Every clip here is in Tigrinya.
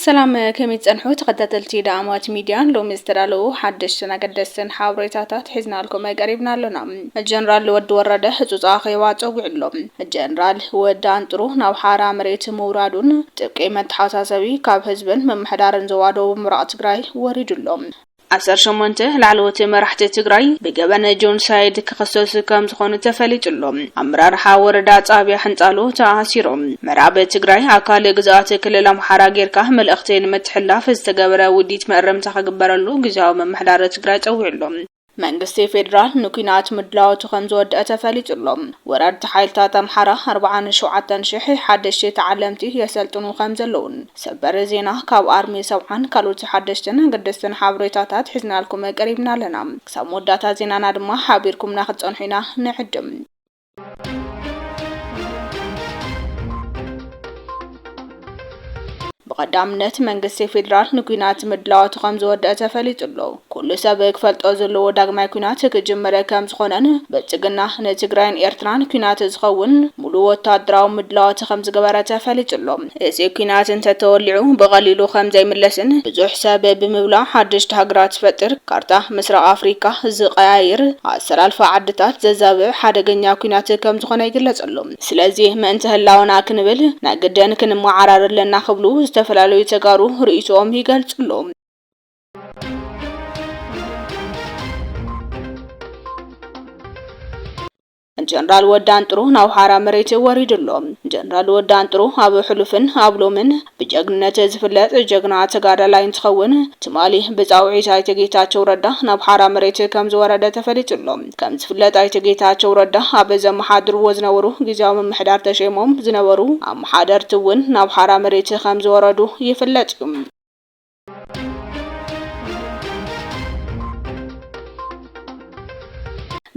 ሰላም ከመይ ትጸንሑ ተኸታተልቲ ዳዕማት ሚድያ ሎሚ ዝተዳለዉ ሓደሽትን ኣገደስትን ሓበሬታታት ሒዝናልኩም ቀሪብና ኣሎና ጀነራል ወዲ ወረደ ህጹጽ ኣኼባ ጸዊዑ ኣሎ ጀነራል ወዲ ኣንጥሩ ናብ ሓራ መሬት ምውራዱን ጥብቂ መተሓሳሰቢ ካብ ህዝብን ምምሕዳርን ዞባ ደቡብ ምብራቕ ትግራይ ወሪዱ ኣሎ ዓሰርተ ሸሞንተ ላዕለዎት መራሕቲ ትግራይ ብገበን ጆንሳይድ ክኽሰሱ ከምዝኾኑ ተፈሊጡ ኣሎ። ኣመራርሓ ወረዳ ጣብያ ሕንጣሎ ተኣሲሮም። ምዕራብ ትግራይ ኣካል ግዝኣት ክልል ኣምሓራ ጌርካ መልእኽቲ ንምትሕልላፍ ዝተገበረ ውዲት መእረምታ ክግበረሉ ግዝያዊ ምምሕዳር ትግራይ ፀዊዑ ኣሎ። መንግስቲ ፌዴራል ንኲናት ምድላዎቱ ከምዝወደኣ ተፈሊጡ ኣሎ። ወረርቲ ሓይልታት ኣምሓራ ኣርብዓን ሸውዓተን ሺሕ ሓደሽቲ ተዓለምቲ የሰልጥኑ ከምዘለዉን፣ ሰበር ዜና ካብ ኣርሚ ሰብዓን ካልኦት ሓደሽትን ኣገደስትን ሓበሬታታት ሒዝናልኩም ቀሪብና ኣለና። ክሳብ መወዳእታ ዜናና ድማ ሓቢርኩምና ክትጸንሑ ኢና ንዕድም። ብቐዳምነት መንግስቲ ፌዴራል ንኲናት ምድላዋቱ ከምዝወደአ ተፈሊጡ ኣሎ። ኩሉ ሰብ ክፈልጦ ዘለዎ ዳግማይ ኩናት ክጅምር ከምዝኾነን ብልፅግና ንትግራይን ኤርትራን ኩናት ዝኸውን ሙሉእ ወታደራዊ ምድላዋት ከምዝገበረ ተፈሊጡ ኣሎ። እዚ ኩናት እንተተወሊዑ ብቐሊሉ ከምዘይምለስን ብዙሕ ሰብ ብምብላዕ ሓደሽቲ ሃገራት ዝፈጥር፣ ካርታ ምስራቕ ኣፍሪካ ዝቐያይር፣ ኣሰላልፋ ዓድታት ዘዛብዕ ሓደገኛ ኩናት ከምዝኾነ ይግለፅ ኣሎ። ስለዚ ምእንተ ህላወና ክንብል ናይ ግድን ክንመዓራረ ኣለና ክብሉ ዝተፈላለዩ ተጋሩ ርእይቶኦም ይገልፁ ኣለው። ጀነራል ወዲ ኣንጥሩ ናብ ሓራ መሬት ወሪዱ ኣሎ። ጀነራል ወዲ ኣንጥሩ ኣብ ሕሉፍን ኣብ ሎምን ብጀግንነት ዝፍለጥ ጀግና ተጋዳላይ እንትኸውን ትማሊ ብፃውዒት ኣይተ ጌታቸው ረዳ ናብ ሓራ መሬት ከም ዝወረደ ተፈሊጡ ኣሎ። ከም ዝፍለጥ ኣይተ ጌታቸው ረዳ ኣብ ዘመሓድርዎ ዝነበሩ ግዜያዊ ምምሕዳር ተሸይሞም ዝነበሩ ኣመሓደርቲ እውን ናብ ሓራ መሬት ከም ዝወረዱ ይፍለጥ እዩ።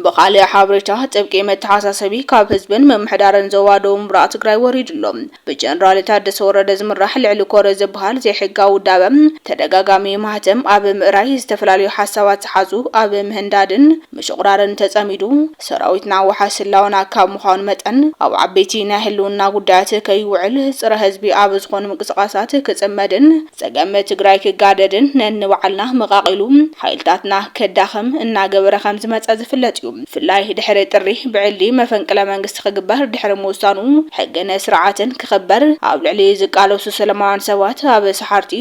ብኻልእ ሓበሬታ ጥብቂ መተሓሳሰቢ ካብ ህዝብን ምምሕዳርን ዞባ ደቡብ ምብራቕ ትግራይ ወሪዱ ኣሎ። ብጀነራል ታደሰ ወረደ ዝምራሕ ልዕሊ ኮረ ዝበሃል ዘይሕጋዊ ውዳበ ተደጋጋሚ ማህተም ኣብ ምእራይ፣ ዝተፈላለዩ ሓሳባት ዝሓዙ ኣብ ምህንዳድን ምሽቑራርን ተጸሚዱ፣ ሰራዊትና ዋሕስ ህላወና ካብ ምዃኑ መጠን፣ ኣብ ዓበይቲ ናይ ህልውና ጉዳያት ከይውዕል፣ ጽረ ህዝቢ ኣብ ዝኾኑ ምንቅስቓሳት ክጽመድን ጸገም ትግራይ ክጋደድን ነንባዕልና መቓቒሉ ሓይልታትና ከዳኽም እናገበረ ከምዝመጸ ዝፍለጥ እዩ። ብፍላይ ድሕሪ ጥሪ ብዕሊ መፈንቅለ መንግስቲ ክፍትሕ ክግበር ድሕሪ ምውሳኑ ሕግን ስርዓትን ክኽበር ኣብ ልዕሊ ዝቃለሱ ሰለማውያን ሰባት ኣብ ሰሓርቲ፣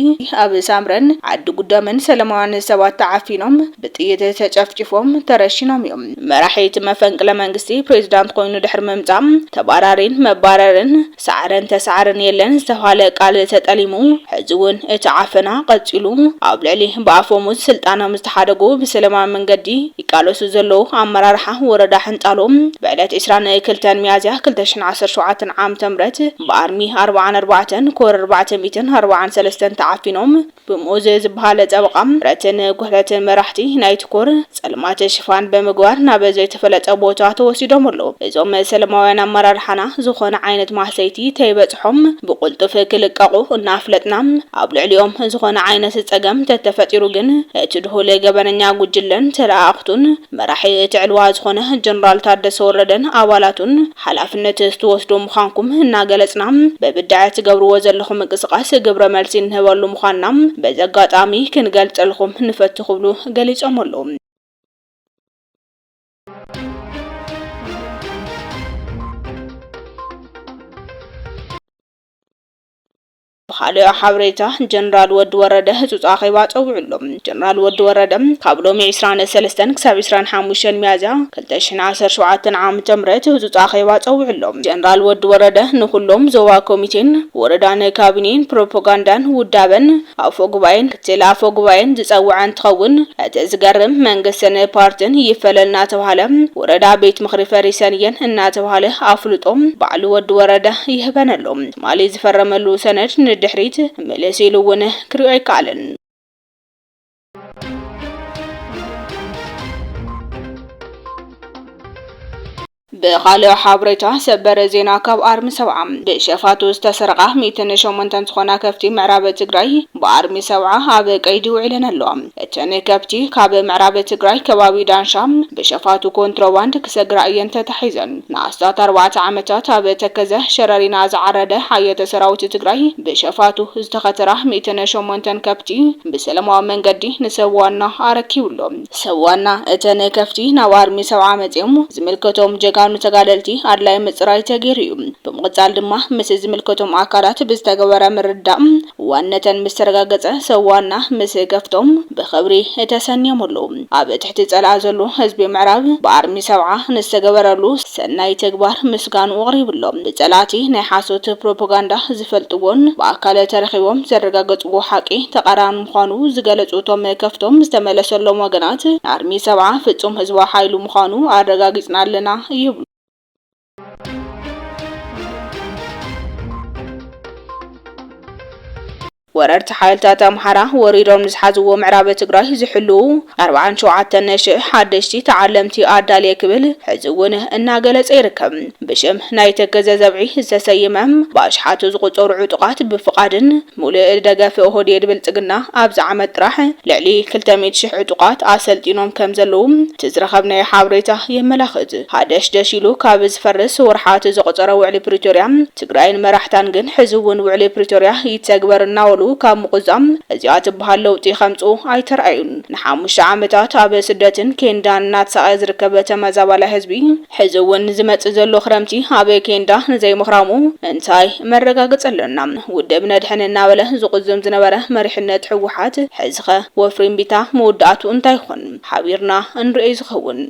ኣብ ሳምረን ዓዲ ጉደምን ሰለማውያን ሰባት ተዓፊኖም ብጥይት ተጨፍጪፎም ተረሺኖም እዮም። መራሒ እቲ መፈንቅለ መንግስቲ ፕሬዚዳንት ኮይኑ ድሕሪ ምምፃእ ተባራሪን መባረርን፣ ሳዕርን ተሳዕርን የለን ዝተብሃለ ቃል ተጠሊሙ ሕዚ እውን እቲ ዓፈና ቀፂሉ ኣብ ልዕሊ ብኣፈሙዝ ስልጣኖም ዝተሓደጉ ብሰለማዊ መንገዲ ይቃለሱ ዘለዉ ኣመራርሓ ወረዳ ሕንጣሎ ብዕለት ዕስራን ክልተን ሚያዝያ ክልተ ሽሕን ዓሰርተ ሸውዓተን ዓም ተምረት ብኣርሚ ኣርብዓን ኣርባዕተን ኮር ኣርባዕተ ሚእትን ኣርብዓን ሰለስተን ተዓፊኖም ብሙኡዝ ዝበሃል ጠበቓ፣ ብረትን ጉሕለትን መራሕቲ ናይቲ ኮር፣ ጸልማት ሽፋን ብምግባር ናብ ዘይተፈለጠ ቦታ ተወሲዶም ኣለዉ። እዞም ሰለማውያን ኣመራርሓና ዝኾነ ዓይነት ማህሰይቲ ተይበጽሖም ብቕልጡፍ ክልቀቑ እናፍለጥና፣ ኣብ ልዕሊኦም ዝኾነ ዓይነት ጸገም ተተፈጢሩ ግን፣ እቲ ድሁል ገበነኛ ጉጅለን ተለኣኣኽቱን፣ መራሒ እቲ ዕልዋ ዝኾነ ጀነራል ታደሰ ወረደን ኣባላቱን፣ ሓላፍነት ትወስዱ ምዃንኩም እናገለፅና ብብድዐ ትገብርዎ ዘለኹም ምንቅስቓስ ግብረ መልሲ እንህበሉ ምዃንና በዚ ኣጋጣሚ ክንገልፀልኹም ንፈቱ ክብሉ ገሊፆም ኣለው። ብኻልእ ሓበሬታ ጀነራል ወዲ ወረደ ህጹጽ ኣኼባ ጸዊዑ ኣሎ። ጀነራል ወዲ ወረደ ካብ ሎሚ ዕስራን ሰለስተን ክሳብ ዕስራን ሓሙሽተን ሚያዝያ ክልተ ሽሕን ዓሰርተ ሸውዓተን ዓም ምተምህረት ህጹጽ ኣኼባ ጸዊዑ ኣሎ። ጀነራል ወዲ ወረደ ንኹሎም ዞባ ኮሚቴን ወረዳን ካቢኔን ፕሮፖጋንዳን ውዳበን ኣፎ ጉባኤን ክትል ኣፎ ጉባኤን ዝጸወዐ እንትኸውን እቲ ዝገርም መንግስትን ፓርትን ይፈለል እናተብሃለ ወረዳ ቤት ምኽሪ ፈሪሰን እየን እናተብሃለ ኣፍልጦ ባዕሉ ወዲ ወረደ ይህበን ኣሎ። ትማሊ ዝፈረመሉ ሰነድ ንድሕሪት ምልስ ኢሉ እውን ክሪኦ ኣይከኣለን። ብኻልኦ ሓበሬታ ሰበር ዜና ካብ ኣርሚ ሰብዓ ብሸፋቱ ዝተሰረቓ ሚእትን ሸሞንተን ዝኾና ከፍቲ ምዕራብ ትግራይ ብኣርሚ ሰብዓ ኣብ ቀይዲ ውዒለን ኣለዋ። እተን ከብቲ ካብ ምዕራብ ትግራይ ከባቢ ዳንሻ ብሸፋቱ ኮንትሮባንድ ክሰግራ እየን ተታሒዘን። ንኣስታት ኣርባዕተ ዓመታት ኣብ ተከዘ ሸረሪና ዝዓረደ ሓየተ ሰራዊት ትግራይ ብሸፋቱ ዝተኸተራ ሚእትን ሸሞንተን ከብቲ ብሰለማዊ መንገዲ ንሰብ ዋና ኣረኪቡ ኣሎ። ሰብ ዋና እተን ከፍቲ ናብ ኣርሚ ሰብዓ መፂኦም ዝምልከቶም ጀጋኑ ተጋደልቲ ኣድላይ ምፅራይ ተገይሩ እዩ። ብምቕፃል ድማ ምስ ዝምልከቶም ኣካላት ብዝተገበረ ምርድዳእ ዋነተን ምስ ተረጋገጸ ሰዋና ምስ ገፍቶም ብኽብሪ ተሰንዮምሉ። ኣብ ትሕቲ ጸላኣ ዘሉ ህዝቢ ምዕራብ ብኣርሚ ሰብዓ ንዝተገበረሉ ሰናይ ተግባር ምስጋንኡ ኣቕሪቡሎ። ብጸላእቲ ናይ ሓሶት ፕሮፖጋንዳ ዝፈልጥዎን ብኣካል ተረኺቦም ዘረጋገጽዎ ሓቂ ተቓራኒ ምዃኑ ዝገለጹ እቶም ከፍቶም ዝተመለሰሎም ወገናት ኣርሚ ሰብዓ ፍጹም ህዝባዊ ሓይሊ ምዃኑ ኣረጋጊጽና ኣለና ይብሉ። ወረርቲ ሓይልታት ኣምሓራ ወሪዶም ዝሓዝዎ ምዕራብ ትግራይ ዝሕልዉ 47000 ሓደሽቲ ተዓለምቲ ኣዳልየ ክብል ሕዚ እውን እናገለጸ ይርከብ። ብሽም ናይ ተከዘ ዘብዒ ዝተሰየመ ብኣሽሓቱ ዝቑጸሩ ዕጡቓት ብፍቓድን ሙሉእ ደገፍ ኦህዴድ ብልፅግና ኣብዚ ዓመት ጥራሕ ልዕሊ ክልተ ሚእቲ ሽሕ ዕጡቓት ኣሰልጢኖም ከምዘለዉ እቲ ዝረኸብናዮ ሓበሬታ የመላኽት። ሃደሽደሽ ኢሉ ካብ ዝፈርስ ወርሓት ዘቑፀረ ውዕሊ ፕሪቶርያ ትግራይን መራሕታን ግን ሕዚ እውን ውዕሊ ፕሪቶርያ ይተግበር እናበሉ ካብ ምቑዛም እዚኣ ትበሃል ለውጢ ከምፅኡ ኣይተርኣዩን። ንሓሙሽተ ዓመታት ኣብ ስደትን ኬንዳን እናተሳቐየ ዝርከብ ተመዛባላይ ህዝቢ ሕዚ እውን ዝመጽእ ዘሎ ክረምቲ ኣብ ኬንዳ ንዘይምኽራሙ እንታይ መረጋገጺ ኣሎና? ውድብ ነድሕን እናበለ ዝቑዝም ዝነበረ መሪሕነት ህወሓት፣ ሕዚኸ ወፍሪ እምቢታ መወዳእትኡ እንታይ ይኾን? ሓቢርና እንርእዮ ዝኸውን።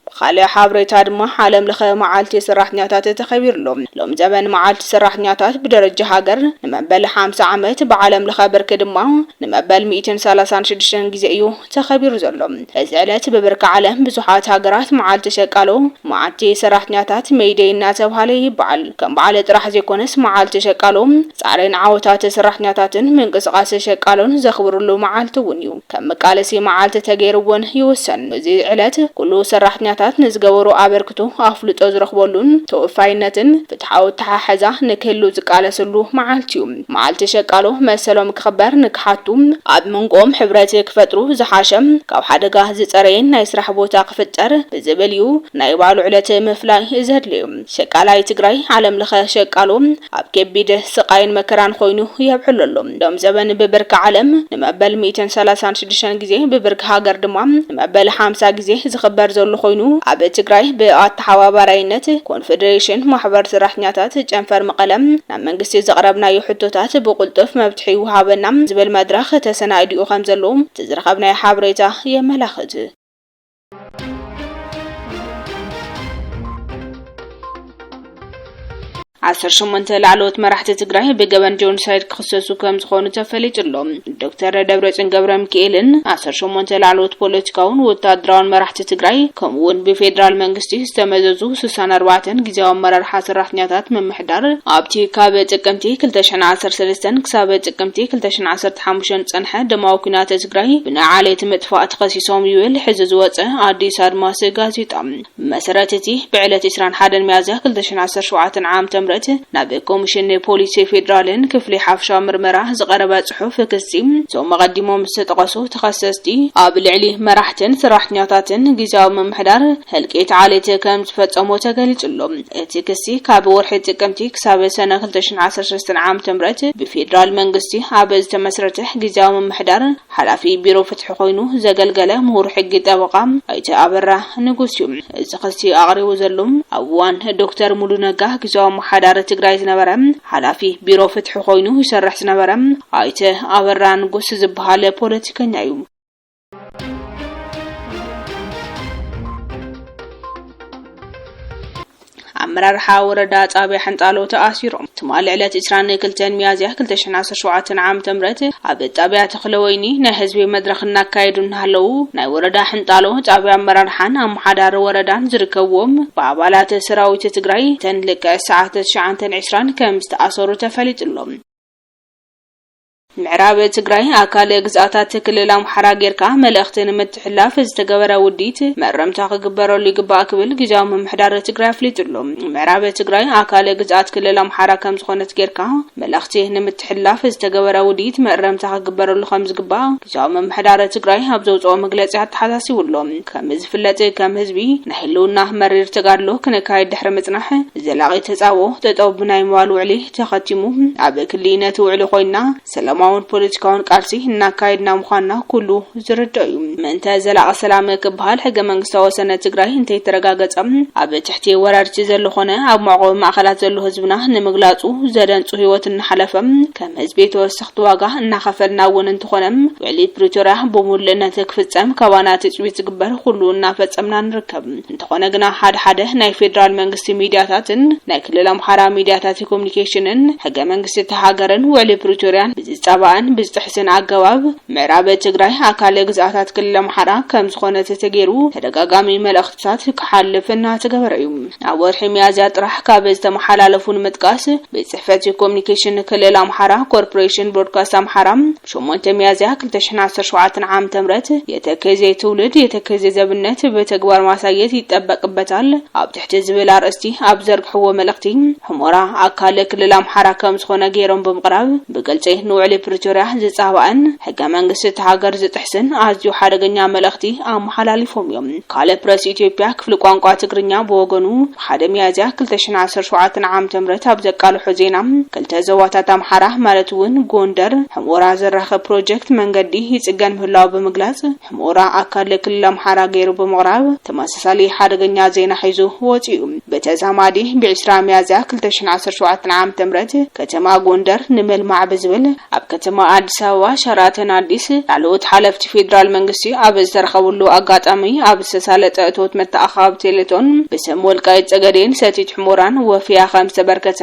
ብኻልእ ሓብሬታ ድማ ዓለም ለኸ መዓልቲ ሰራሕተኛታት ተኸቢሩ ኣሎ። ሎሚ ዘበን መዓልቲ ሰራሕተኛታት ብደረጃ ሃገር ንመበል ሓምሳ ዓመት፣ ብዓለም ለኸ ብርኪ ድማ ንመበል ሚእትን ሰላሳን ሽዱሽተን ግዜ እዩ ተኸቢሩ ዘሎ እዚ ዕለት ብብርኪ ዓለም ብዙሓት ሃገራት መዓልቲ ሸቃሎ፣ መዓልቲ ሰራሕተኛታት፣ ሜይ ደይ እናተብሃለ ይበዓል። ከም በዓል ጥራሕ ዘይኮነስ መዓልቲ ሸቃሎ ፃዕሪን ዓወታት ሰራሕተኛታትን ምንቅስቓስ ሸቃሎን ዘኽብርሉ መዓልቲ እውን እዩ። ከም መቃለሲ መዓልቲ ተገይሩ እውን ይውሰን። እዚ ዕለት ኩሉ ሰራሕተኛታት ንዝገበሮ ኣበርክቶ ኣፍልጦ ዝረኽበሉን ተወፋይነትን ፍትሓዊ ኣተሓሕዛ ንክህሉ ዝቃለሰሉ መዓልቲ እዩ። መዓልቲ ሸቃሎ መሰሎም ክኽበር ንክሓቱ ኣብ መንጎኦም ሕብረት ክፈጥሩ ዝሓሸ ካብ ሓደጋ ዝፀረየን ናይ ስራሕ ቦታ ክፍጠር ብዝብል እዩ ናይ ባዕሉ ዕለት ምፍላይ ዘድልዩ። ሸቃላይ ትግራይ ዓለም ለኸ ሸቃሎ ኣብ ከቢድ ስቓይን መከራን ኾይኑ የብዕሎ ኣሎ። ሎም ዘበን ብብርኪ ዓለም ንመበል ሚእትን ሰላሳን ሽዱሽተን ግዜ ብብርኪ ሃገር ድማ ንመበል ሓምሳ ግዜ ዝኽበር ዘሎ ኾይኑ ኣብ ትግራይ ብኣተሓባባራይነት ኮንፌዴሬሽን ማሕበር ሰራሕተኛታት ጨንፈር መቐለ ኣብ መንግስቲ ዘቕረብናዮ ሕቶታት ብቕልጡፍ መብትሒ ይውሃበና ዝብል መድረኽ ተሰናይዲኡ ከምዘሎ እቲ ዝረኸብናዮ ሓበሬታ የመላኽት። ዓሰርተ ሸሞንተ ላዕለዎት መራሕቲ ትግራይ ብገበን ጆኖሳይድ ክኽሰሱ ከም ዝኾኑ ተፈሊጡ ኣሎ። ዶክተር ደብረፅዮን ገብረ ሚካኤልን ዓሰርተ ሸሞንተ ላዕለዎት ፖለቲካውን ወታደራውን መራሕቲ ትግራይ ከምኡውን ብፌዴራል መንግስቲ ዝተመዘዙ ስሳን ኣርባዕተን ግዜያዊ ኣመራርሓ ሰራሕተኛታት ምምሕ ምምሕዳር፣ ኣብቲ ካብ ጥቅምቲ ክልተ ሽሕን ዓሰርተ ሰለስተን ክሳብ ጥቅምቲ ክልተ ሽሕን ዓሰርተ ሓሙሽተን ዝጸንሐ ደማዊ ኲናት ትግራይ ብናይ ዓሌት ምጥፋእ ተኸሲሶም ይብል ሕዚ ዝወጸ ኣዲስ ኣድማስ ጋዜጣ። ብመሰረት እቲ ብዕለት ዕስራን ሓደን ሚያዝያ ክልተ ሽሕን ዓሰርተ ሸውዓተን ዓም ተምረት ናብ ኮሚሽን ፖሊስ ፌደራልን ክፍሊ ሓፈሻዊ ምርመራ ዝቐረበ ጽሑፍ ክሲ፣ እቶም ኣቐዲሞም ዝተጠቐሱ ተኸሰስቲ፣ ኣብ ልዕሊ መራሕትን ሰራሕተኛታትን ግዝያዊ ምምሕዳር ህልቂት ዓሌት ከምዝፈጸሙ ተገሊጹ ኣሎ። እቲ ክሲ ካብ ወርሒ ጥቅምቲ ክሳብ ሰነ ክልተ ሽሕን ዓሰርተ ሰለስተን ዓመተ ምህረት ብፌዴራል መንግስቲ ኣብ ዝተመስረተ ግዝያዊ ምምሕዳር ሓላፊ ቢሮ ፍትሒ ኮይኑ ዘገልገለ ምሁር ሕጊ ጠበቓ ኣይተ ኣበራ ንጉስ እዩ እዚ ክሲ ኣቕሪቡ ዘሎ። ኣብ እዋን ዶክተር ሙሉ ነጋ ግዝያዊ ኣመሓዳሪ ትግራይ ዝነበረ ሓላፊ ቢሮ ፍትሒ ኮይኑ ይሰርሕ ዝነበረ ኣይተ ኣበራ ንጉስ ዝበሃል ፖለቲከኛ እዩ። ኣመራርሓ ወረዳ ጣብያ ሕንጣሎ ተኣሲሮም ትማሊ ዕለት 22 ሚያዝያ 2017 ዓ ም ኣብ ጣብያ ተኽለ ወይኒ ናይ ህዝቢ መድረኽ እናካየዱ እናሃለዉ ናይ ወረዳ ሕንጣሎ ጣብያ ኣመራርሓን ኣመሓዳሪ ወረዳን ዝርከብዎም ብኣባላት ሰራዊት ትግራይ ተን ልክዕ ሰዓት 920 ከም ዝተኣሰሩ ተፈሊጡሎም ምዕራብ ትግራይ ኣካል ግዝኣታት ክልል ኣምሓራ ጌርካ መልእኽቲ ንምትሕልላፍ ዝተገበረ ውዲት መእረምታ ክግበረሉ ይግባእ ክብል ጊዜያዊ ምምሕዳር ትግራይ ኣፍሊጡ ኣሎ። ምዕራብ ትግራይ ኣካል ግዝኣት ክልል ኣምሓራ ከምዝኾነት ጌርካ መልእኽቲ ንምትሕልላፍ ዝተገበረ ውዲት መእረምታ ክግበረሉ ከምዝግባእ ጊዜያዊ ምምሕዳር ትግራይ ኣብ ዘውፅኦ መግለፂ ኣተሓሳሲቡ ኣሎ። ከምዝፍለጥ ከም ህዝቢ ናይ ህልውና መሪር ተጋድሎ ክነካይድ ድሕሪ ምፅናሕ ዘላቒ ተፃብኦ ጠጠው ብናይ ምባል ውዕሊ ተኸቲሙ ኣብ ክሊ ነቲ ውዕሊ ኮይንና ሰላማውን ፖለቲካውን ቃልሲ እናካየድና ምዃንና ኩሉ ዝርድኦ እዩ። ምእንተ ዘላቒ ሰላም ክበሃል ሕገ መንግስታዊ ወሰነ ትግራይ እንተይተረጋገፀ ኣብ ትሕቲ ወራርቲ ዘሎ ኾነ ኣብ መዕቖቢ ማእኸላት ዘሎ ህዝብና ንምግላፁ ዘደንፁ ህይወት እናሓለፈ ከም ህዝቢ ተወሰኽቲ ዋጋ እናኸፈልና እውን እንተኾነ ውዕሊ ፕሪቶርያ ብሙሉእነት ክፍፀም ካባና ትፅቢት ዝግበር ኩሉ እናፈፀምና ንርከብ። እንተኾነ ግና ሓደ ሓደ ናይ ፌደራል መንግስቲ ሚድያታትን ናይ ክልል ኣምሓራ ሚድያታት ኮሙኒኬሽንን ሕገ መንግስቲ እታ ሃገርን ውዕሊ ፕሪቶርያን ብዝፃባእን ብዝጥሕስን ኣገባብ ምዕራብ ትግራይ ኣካል ግዝኣታት ክልል ኣምሓራ ከምዝኾነት ተገይሩ ተደጋጋሚ መልእኽትታት ክሓልፍ እናተገበረ እዩ። ኣብ ወርሒ ሚያዝያ ጥራሕ ካብ ዝተመሓላለፉ ንምጥቃስ ቤት ፅሕፈት ኮሙኒኬሽን ክልል ኣምሓራ፣ ኮርፖሬሽን ብሮድካስት ኣምሓራ፣ ሸሞንተ ሚያዝያ ክልተ ሽሕን ዓሰርተ ሸውዓተን ዓመተ ምህረት የተከዜ ትውልድ የተከዜ ዘብነት ብተግባር ማሳየት ይጠበቅበታል ኣብ ትሕቲ ዝብል ኣርእስቲ ኣብ ዘርግሕዎ መልእኽቲ ሑሞራ ኣካል ክልል ኣምሓራ ከም ዝኾነ ገይሮም ብምቕራብ ብግልፂ ንውዕሊ ፕሪቶርያ ዝፃባእን ሕገ መንግስቲ እቲ ሃገር ዝጥሕስን ኣዝዩ ሓደገኛ መልእኽቲ ኣመሓላሊፎም እዮም። ካልእ ፕረስ ኢትዮጵያ ክፍሊ ቋንቋ ትግርኛ ብወገኑ ሓደ ሚያዝያ ክልተ ሽሕን ዓሰርተ ሸውዓተን ዓም ተምረት ኣብ ዘቃልሖ ዜና፣ ክልተ ዞባታት ኣምሓራ ማለት እውን ጎንደር፣ ሕምኡራ ዘራኽብ ፕሮጀክት መንገዲ ይፅገን ምህላዉ ብምግላፅ ሕምኡራ ኣካል ክልል ኣምሓራ ገይሩ ብምቕራብ ተመሳሳሊ ሓደገኛ ዜና ሒዙ ወፂኡ። ብተዛማዲ ብ ዕስራ ሚያዝያ ክልተ ሽሕን ዓሰርተ ሸውዓተን ዓም ተምረት ከተማ ጎንደር ንመልማዕ ብዝብል ኣብ ከተማ ኣዲስ ኣበባ ሸራተን ኣዲስ ላዕለዎት ሓለፍቲ ፌዴራል መንግስቲ ኣብ ዝተረኸብሉ ኣጋጣሚ ኣብ ዝተሳለጠ እቶት መተኣኻቢ ቴሌቶን ብስም ወልቃይት ፀገዴን ሰቲት ሕሞራን ወፊያ ከም ዝተበርከተ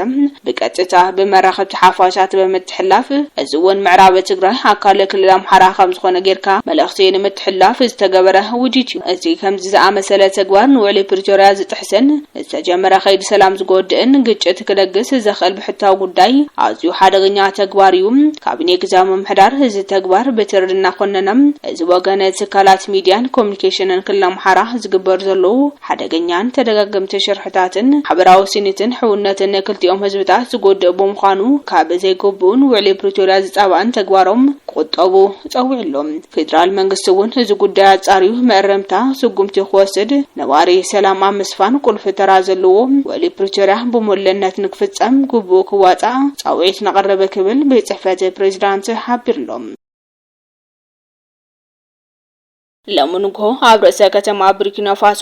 ብቀጥታ ብመራኸብቲ ሓፋሻት ብምትሕላፍ እዚ እውን ምዕራብ ትግራይ ኣካል ክልል ኣምሓራ ከም ዝኾነ ጌርካ መልእኽቲ ንምትሕላፍ ዝተገበረ ውዲት እዩ። እዚ ከምዚ ዝኣመሰለ ተግባር ንውዕሊ ፕሪቶርያ ዝጥሕስን ዝተጀመረ ከይዲ ሰላም ዝጎድእን ግጭት ክለግስ ዘኽእል ብሕታዊ ጉዳይ ኣዝዩ ሓደገኛ ተግባር እዩ። ካቢኔ ግዝያዊ ምምሕዳር እዚ ተግባር ብትሪ እናኾነነ እዚ ወገን ትካላት ሚዲያን ኮሚኒኬሽንን ክልል ኣምሓራ ዝግበሩ ዘለዉ ሓደገኛን ተደጋገምቲ ሽርሕታትን ማሕበራዊ ስኒትን ሕውነትን ክልቲኦም ህዝብታት ዝጎድእ ብምዃኑ ካብ ዘይግቡእን ውዕሊ ፕሪቶሪያ ዝፃባእን ተግባሮም ክቑጠቡ ተጸዊዑ ኣሎ። ፌደራል መንግስቲ እውን እዚ ጉዳይ ኣጻርዩ መእረምታ ስጉምቲ ክወስድ ነባሪ ሰላም ኣብ ምስፋን ቁልፊ ተራ ዘለዎ ውዕሊ ፕሪቶርያ ብሙሉእነት ንክፍጸም ግቡኡ ክዋጻእ ጻውዒት ነቕርብ ክብል ቤት ጽሕፈት ፕሬዚዳንት ሓቢሩ'ሎ። ሎሚ ንግሆ ኣብ ርእሰ ከተማ ቡርኪናፋሶ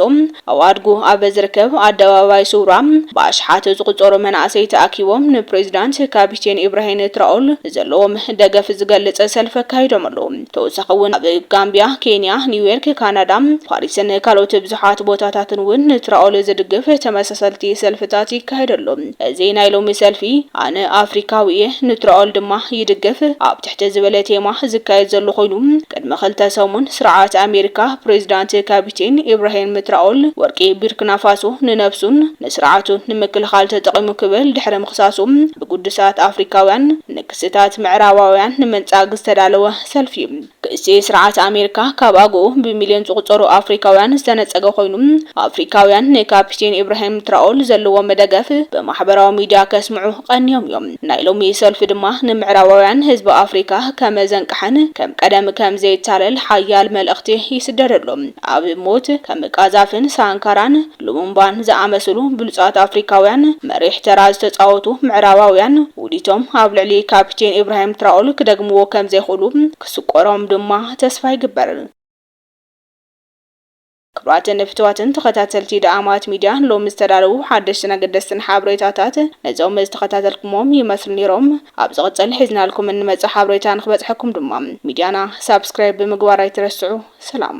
ኣዋድጉ ኣብ ዝርከብ ኣደባባይ ሱውራ ብኣሽሓት ዝቑጸሩ መናእሰይ ተኣኪቦም ንፕሬዚዳንት ካፒቴን ኢብራሂን ትራኦል ዘለዎም ደገፍ ዝገልጽ ሰልፊ ኣካይዶም ኣለዉ። ተወሳኺ እውን ኣብ ጋምቢያ፣ ኬንያ፣ ኒውዮርክ፣ ካናዳ፣ ፓሪስን ካልኦት ብዙሓት ቦታታትን እውን ንትራኦል ዝድግፍ ተመሳሰልቲ ሰልፍታት ይካየድ ኣሎ። እዚ ናይ ሎሚ ሰልፊ ኣነ ኣፍሪካዊ እየ ንትራኦል ድማ ይድግፍ ኣብ እቲ ዝበለ ቴማ ዝካየድ ዘሎ ኮይኑ፣ ቅድሚ ክልተ ሰሙን ስርዓት ኣሜሪካ ፕሬዚዳንት ካፒቴን ኢብራሂም ትራኦል ወርቂ ቢርክናፋሶ ንነብሱን ንስርዓቱን ንምክልኻል ተጠቒሙ ክብል ድሕሪ ምኽሳሱ ብግዱሳት ኣፍሪካውያን ንክስታት ምዕራባውያን ንምንጻግ ዝተዳለወ ሰልፊ እዩ። ክሲ ስርዓት ኣሜሪካ ካብ ኣግኡ ብሚልዮን ዝቑጸሩ ኣፍሪካውያን ዝተነጸገ ኮይኑ፣ ኣፍሪካውያን ንካፒቴን ኢብራሂም ትራኦል ዘለዎም ደገፍ ብማሕበራዊ ሚዲያ ከስምዑ ቀንዮም እዮም። ናይ ሎሚ ሰልፊ ድማ ንምዕራባውያን ህዝቢ ኣፍሪካ ከም ዘንቀሐን ከም ቀደም ከም ዘይታለል ሓያል መልእኽቲ ይስደደሉ። ኣብ ሞት ከም ቃዛፍን ሳንካራን ሉሙምባን ዝኣመስሉ ብሉፃት ኣፍሪካውያን መሪሕ ተራ ዝተፃወቱ ምዕራባውያን ውዲቶም ኣብ ልዕሊ ካፒቴን ኢብራሂም ትራኦል ክደግምዎ ከም ዘይኽእሉ ክስቆሮም ድማ ተስፋ ይግበር። ክቡራትን ፍትዋትን ተኸታተልቲ ደኣማት ሚድያ ሎሚ ዝተዳለዉ ሓደሽትን ኣገደስትን ሓብሬታታት ነዞም ዝተኸታተልኩሞም ይመስሉ ኔሮም ኣብ ዝቕጽል ሒዝናልኩም እንመጽእ ሓብሬታ ንክበጽሐኩም ድማ ሚድያና ሳብስክራይብ ብምግባር ኣይትረስዑ ሰላም